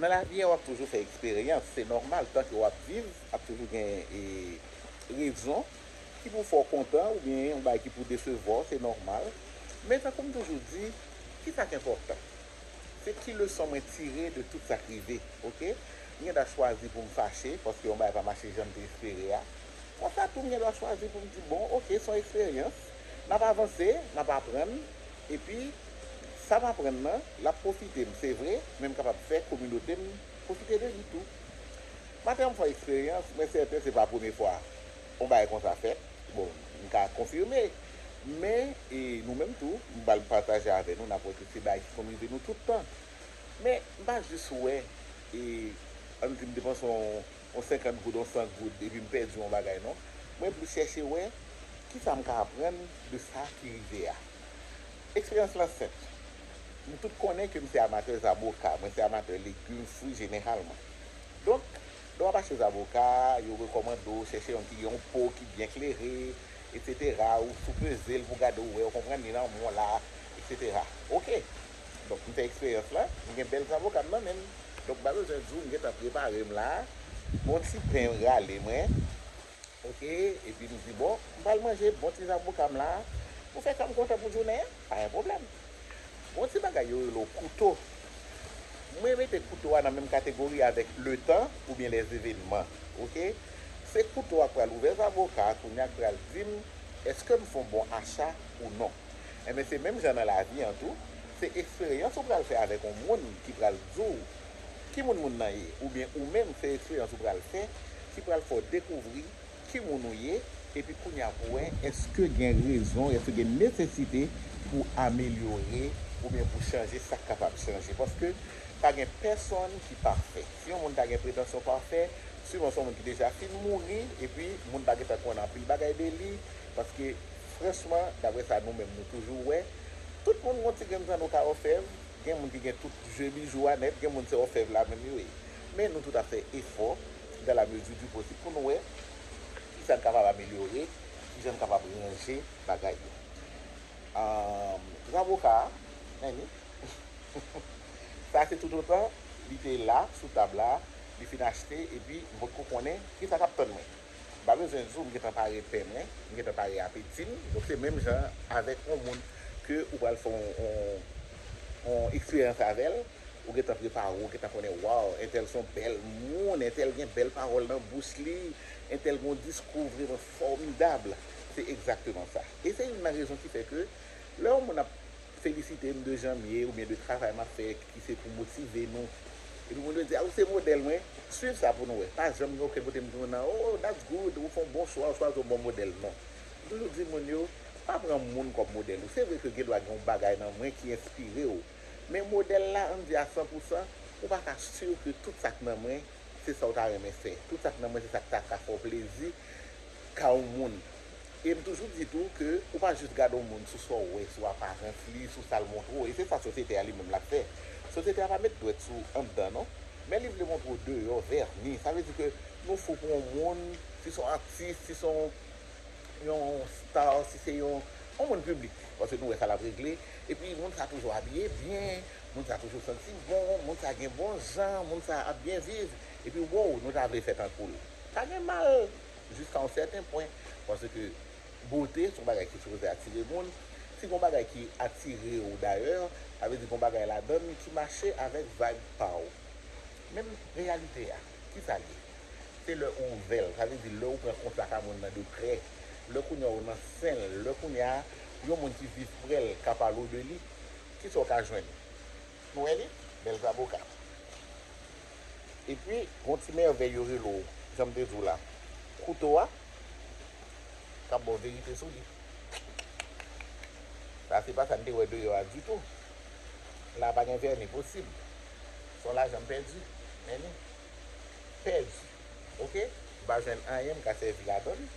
Nan lavi a wap toujou fè eksperyans, se nòmal tanke wap viv ap toujou gen rezon ki pou fè w kontan oubyen yon bagay ki pou desevwa w, se nòmal. Men tankou m toujou di, kisa k enpòtan? Se ki leson mwen tire de tout sa k rive ok. M gen dwa chwazi pou m fache paske yon bagay pa mache jan m te espere a, konsa tou m gen dwa chwazi pou m di bon ok se yon eksperyans, nap avanse, nap aprann. Epi, sa m aprann nan, l ap pwofite m, se vre, men m kapab fè kominote m pwofite de li tou. Maten an m fè eksperyans, mwen sèten se pa premye fwa yon bagay konsa fèt, bon, m ka konfime, men, e nou menm tou, m pral pataje avè nou, n ap wè ke se bagay ki konn rive nou tout tan. Men, m pa jis wè, e, an n di m te panse yon. on 50 goud, on 100 goud epi m pèdi on bagay non. Mwen plis chèche wè kisa m ka aprann de sa ki rive a. Eksperyans lan senp. Nou tout konnen ke m se amatè zaboka, mwen se amatè legum, fwi jeneralman. Donk, lè w ap achte zaboka, yo rekòmande w chèche yon ki gen yon po ki byen klere, etc. Ou soupeze l pou w gade w wè, ou konprann li nan moun la, etc. Ok! Donk m fè eksperyans la, m gen bèl zavoka m nan men m. Donk m pa bezwen di w m gen tan prepare m la. Bon ti pen rale mwen ok epi m di bon m pral manje bon ti zavoka m la pou fè kè m kontan pou jounen an, pa gen pwoblèm. Gon ti bagay yo rele w kouto. Mwen mete kouto a nan menm kategori avèk letan oubyen lèzevenman ok. Se kouto a k pral ouvè zavoka a kounye a k pral di m èske m fon bon acha ou non. Enben se menm jan nan lavi an tou, se eksperyans ou pral fè avèk yon moun ki pral di w ki moun moun nan ye oubyen ou menm se eksperyans ou pral fè ki pral fè w dekouvri ki moun ou ye epi kounye a pou wè èske gen rezon, èske gen nesesite pou amelyore oubyen pou chanje sa k kapab chanje paske pa gen pèsonn ki pafè. Si yon moun ta gen pretansyon pafè, siman se yon moun ki deja fin mouri epi moun pa gentan konn anpil bagay de li Paske franchman, daprè sa nou menm nou toujou wè, tout moun gon ti grenn jan nou ka òfèv, gen moun ki gen tout je bijou a nèt, gen moun se òfèv la menm yo ye. Men nou tout ap fè efò dan la mezi di posib pou nou wè ki sa n kapab amelyore, ki jan n kapab ranje bagay yo. Amm Zaboka a, Annie, sa se toutotan li te la sou tab la, li fin achte epi m potko konnen ki sa k ap tann mwen. M pa bezwen di w m gentan pare pen mwen, m gentan pare apeti m, donk se menm jan avèk yon moun ke ou pral fè yon eksperyans avè l, ou gentan prepare w, ou gentan konnen waw entèl son bèl moun, entèl gen bèl pawòl nan bouch li, entèl gen yon diskou vreman fòmidab, se egzakteman sa. E se youn nan rezon ki fè ke lè yon moun ap felisite m de jan m ye oubyen de travay m ap fè ki se pou motive nou epi moun yo di a ou se modèl mwen swiv sa pou nou wè pa janm gen okenn kote m di moun nan oo that's good ou fè yon bon chwa ou chwazi yon bon modèl non m toujou di moun yo pa pran moun kòm modèl ou se vre ke gen dwa gen yon bagay nan mwen ki enspire w men modèl la an n di a san pou san ou pa ka sur ke tout sa k nan mwen se sa w ta renmen fè tout sa k nan mwen se sa k ta ka fè w plezi ka yon moun. E m toujou di tou ke ou pa jis gade yon moun sou sa w wè, sou aparans li, sou sa l montre w, e se sa sosyete a li menm l ap fè. Sosyete a pa met dwèt sou anndan non, men li vle montre w deyò, vèni. Sa vle di ke nou fou pou yon moun, si se yon atis, si se yon yon star, si se yon yon moun piblik, paske nou wè sa l ap regle, epi moun sa toujou abiye byen, moun sa toujou santi bon, moun sa gen bon jan, moun sa ap byen viv, epi woww nou ta vle fè tankou l. Sa gen mal! jiska yon sèten pwen, paske bote son bagay ki sipoze atire moun, si gon bagay ki atire w dayè, sa vle di gon bagay ladan l ki mache avèk vayb pa w. Men reyalite a, ki sa l ye? Se lè ou ouvè l, sa vle di lè ou pran kontak a moun nan de prè, lè kounya ou nan sen l, lè kounya yon moun ki viv prè l ka pale w de li, ki sa ou ka jwenn? Nou wè li? Bèl zaboka. Epi gon ti mèvèy yo rele w, jan m te di w la, kouto a, k ap ba w verite sou li. Sa se pa sa n te wè deyò a ditou. La a pa gen vèni posib. S on lajan m pèdi. Men li. Pèdi. Oke? M pa jwenn anyen m ka sèvi ladan l.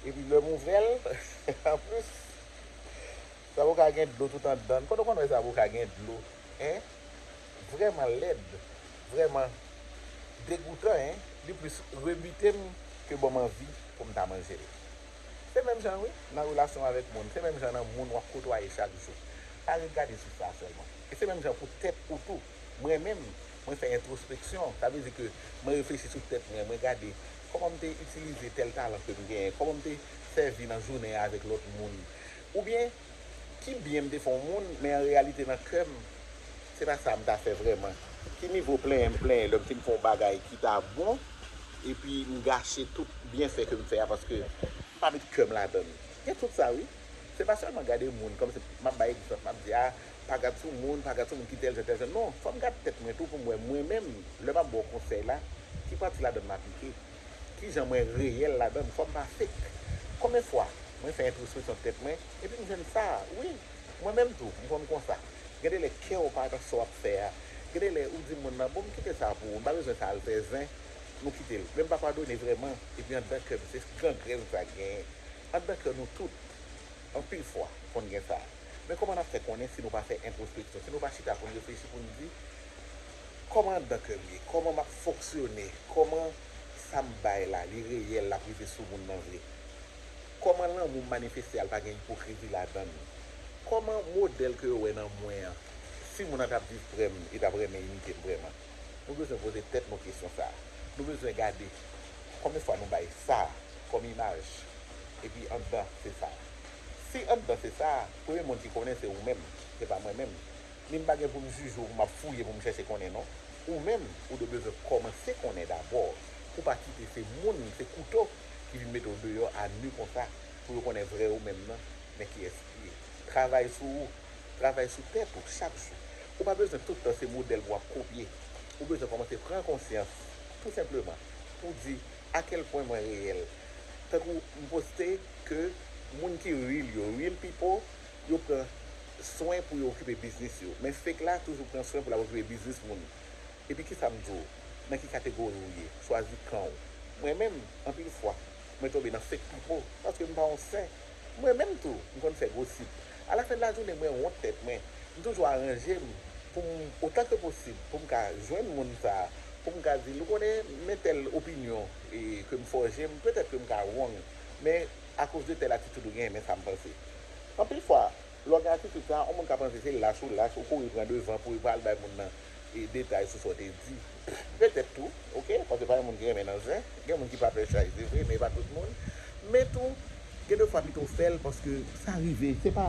Epi lè m ouvè l, anplis. Zaboka gen dlo tout andann. Kote w konn wè zaboka gen dlo hein vrèman lèd vrèman degoutan hein li plis rebite m ke banm anvi pou m ta manje l se menm jan wi nan relasyon w avèk moun se menm jan nan moun wap kotwaye chak jou pa ret gade souf la sèlman e se menm jan pou tèt ou tou mwen menm mwen fè entrospeksyon sa vle di ke mwen reflechi sou tèt mwen mwen gade kòman m te itilize tèl talan ke m genyen kòman m te sèvi nan jounen an avèk lòt moun Oubyen, ki byen m te fè yon moun, men an reyalite nan kè m, se pa sa m ta fè vrèman? Ki nivo plenyen m plenyen lè m fin fè yon bagay ki ta bon, epi m gache tout byenfè ke m fè a paske m pa met kè m ladan l? Gen tout sa wi. Se pa sèlman gade moun, kòm se m ap bay egzanp, m ap di, a, pa gad sou moun, pa gad sou moun ki tèl jan tèl jan. Non, fò m gad tèt mwen tou pou m wè mwen menm, lè m ap ba w konsèy la, ki pati ladan l m aplike. kijan mwen reyèl ladann fòm pa fake konbyen fwa mwen fè entrospeksyon tèt mwen epi m jwenn sa wi mwen menm tou m konn konsa gen de lè kèw pa nan sa wap fè a gen de lè ou di moun nan bonm kite sa pou ou m pa bezwen sa al fè zen nou kitel menm pa padone vrèman epi andan kèm se gangrèn sa gen andan kè nou tout anpil fwa konn gen sa men kòman nap fè konnen si nou pa fè entrospeksyon si nou pa chita poun reflechi poun di. Kòman dan kèm ye? Kòman map fonksyone? Kòman sam bay la li reyèl lap rive sou moun nan vre? Kòman lanmoum manifeste al pa gen ipokrizi ladann? Kòman modèl ke yo wè nan mwen an si moun nan tap viv prèm li tap renmen imitem vrèman? Nou bezwen poze tèt nou kesyon sa. Nou bezwen gade konbyen fwa nou bay sa kòm imaj epi andan se sa. Si andan se sa, premye moun ki konnen se ou menm, se pa mwen menm. Men m pa gen pou m jije w pou m ap fouye pou m chèche konnen non. Ou menm, ou dwe bezwen kòmanse konnen dabò pou w pa kite se moun, se kouto ki vin mete w deyò a nu konsa pou yo konnen vrè ou menm nan, men kiyès ki ye. Travay sou ou, travay sou tèt ou chak jou. Ou pa bezwen tout tan se modèl pou w ap kopye. Ou bezwen kòmanse pran konsyans tou senpleman pou w di a kèl pwen mwen reyèl. Tankou m poste ke moun ki real yo, real people, Yo pran swen pou yo okipe biznis yo, men fake la toujou pran swen pou lap okipe biznis moun. Epi kisa m di w, nan ki kategori w ye, chwazi kan w. Mwen menm, anpil fwa, mwen tonbe nan fake pipo, paske m pa yon sen. Mwen menm tou, m konn fè gosip. A la fen de la jounen mwen wont tèt mwen. M toujou aranje m pou m, otan ke posib, pou m ka jwenn moun sa, pou m ka di l, ou konnen, men tèl opinyon ke m fòje, petèt ke m ka wrong, men akoz de tèl atitid ou genyen, men sa m panse. Anpil fwa, lè w gen atitid sa a, yon moun ka panse se lach ou lach, ou kouri pran devan pou pa al bay moun nan detay sou sa w te di. Petèt tou, ok, paske pa gen moun ki renmen nan zen, gen moun ki pa pè chay se vre men e pa tout moun, men tou, gen de fwa pito w fè l paske sa rive, se pa,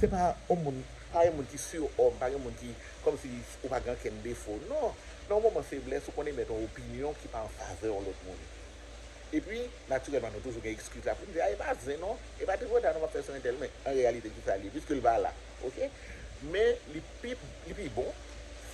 se pa yon moun, pa gen moun ki surhomme, pa gen moun ki, kòmsi ou pa gen ankenn defo, non, nan yon moman feblès ou konn emèt yon opinyon ki pa an favè yon lòt moun. Epi, natirèlman nou toujou gen ekskiz la pou n di, a e pa zen non, e pa tripotay non m ap fè sou entèl, men an reyalite ki sa l ye, piske l pa la, ok. Men li pi, li pi bon,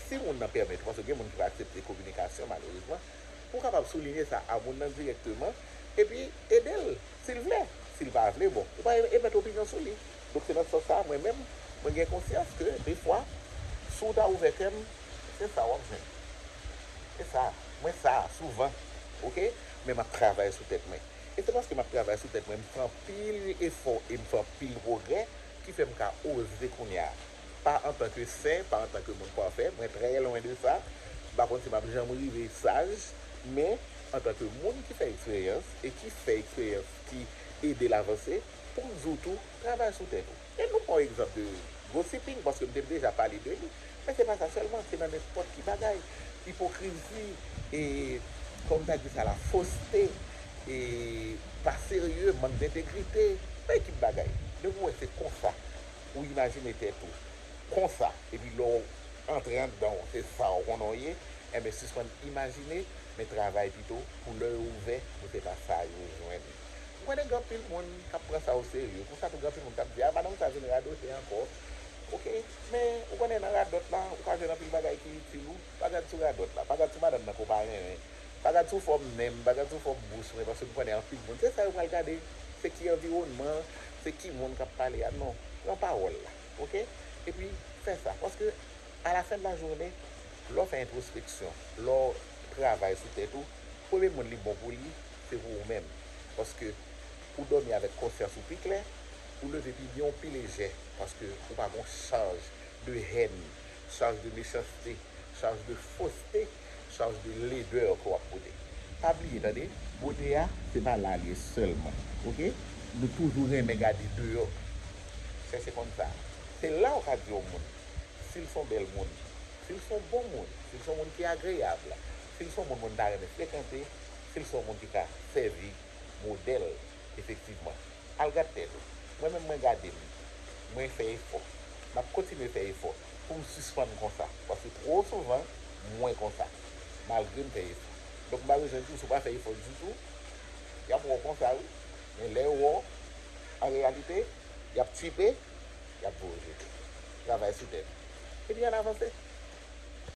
si moun nan pèmèt ou, paske gen moun ki pa aksepte kominikasyon malerezman, pou w kapab soulinye sa a moun nan dirèkteman, epi ede l, si l vle. Si l pa vle, bon, ou pa emèt opinyon sou li. Donk se nan sans sa a mwen menm, mwen gen konsyans ke defwa, si w ta ouvè kè m, se sa w ap jwenn. Se sa. Mwen sa souvan ok men map travay sou tèt mwen e se paske map travay sou tèt mwen m fè anpil efò e m fè anpil pwogrè ki fè m ka oze kounya pa antan ke sen pa antan ke moun pafè mwen trè lwen de sa m pa konn si map janm rive saj men antan ke moun ki fè eksperyans e ki fè eksperyans ki edel avanse poum di w tou travay sou tèt ou. E nou pran yon egzanp de gossiping, paske m te deja pale de li, men se pa sa sèlman, se nan nenpòt ki bagay. Ipokrizi e, kòman m ta di sa la, foste e pa serye, mank dentegrite, nan ekip bagay. Depi w wè se konsa ou imajine tèt ou, konsa, epi lè w antre anndan w se sa w konnen w ye, enben sispann imajine, men travay pito pou lè yo ouvè pou se pa sa yo jwenn. Ou konnen gen anpil moun kap pran sa o serye, konsa tou gen anpil moun kap di a madanm sa vin radote ankò ok, men ou konnen nan radòt la ou ka jwenn anpil bagay ki itil ou, pa gad sou radòt la, pa gad sou madanm nan ke w pa renmen, pa gad sou fòm nen m, pa gad sou fòm bouch mwen paske m konnen anpil moun se sa yo pral gade, se ki anviwònman, se ki moun kap pale a, non, pran pawòl la ok, epi fè sa paske a la fen de la joune lè w fè entwospeksyon, lè w travay sou tèt ou, premye moun li bon pou li. Se pou ou menm. Paske ou dòmi avèk konsyans ou pi klè, ou leve pi byen ou pi lejè, paske ou pa gon chaj de hèn, chaj de mechanste, chaj de foste, chaj de ledè ke wap pote. Pa bliye tande! Bote a se pa la li ye sèlman ok, nou toujou renmen gade deyò, chèche konn sa. Se la ou ka di yon moun si l son bèl moun, si l son bon moun, si l son moun ki agreyab, si l son moun moun ta renmen frekante, Se l sèl moun ki ka sèvi modèl efektivman. Al gad tèt ou. Mwen menm mwen gade m. Mwen fè efò. M ap kontinye fè efò pou m sispann konsa. Paske twò souvan mwen konsa. Malgre m fè efò. Donk m pa bezwen di w si w pa fè efò ditou, y ap wè w konsa wi. Men lè yo wè w, an reyalite, y ap tchipe, y ap voye w jete. Travay sou tèt ou. Epi ann avanse.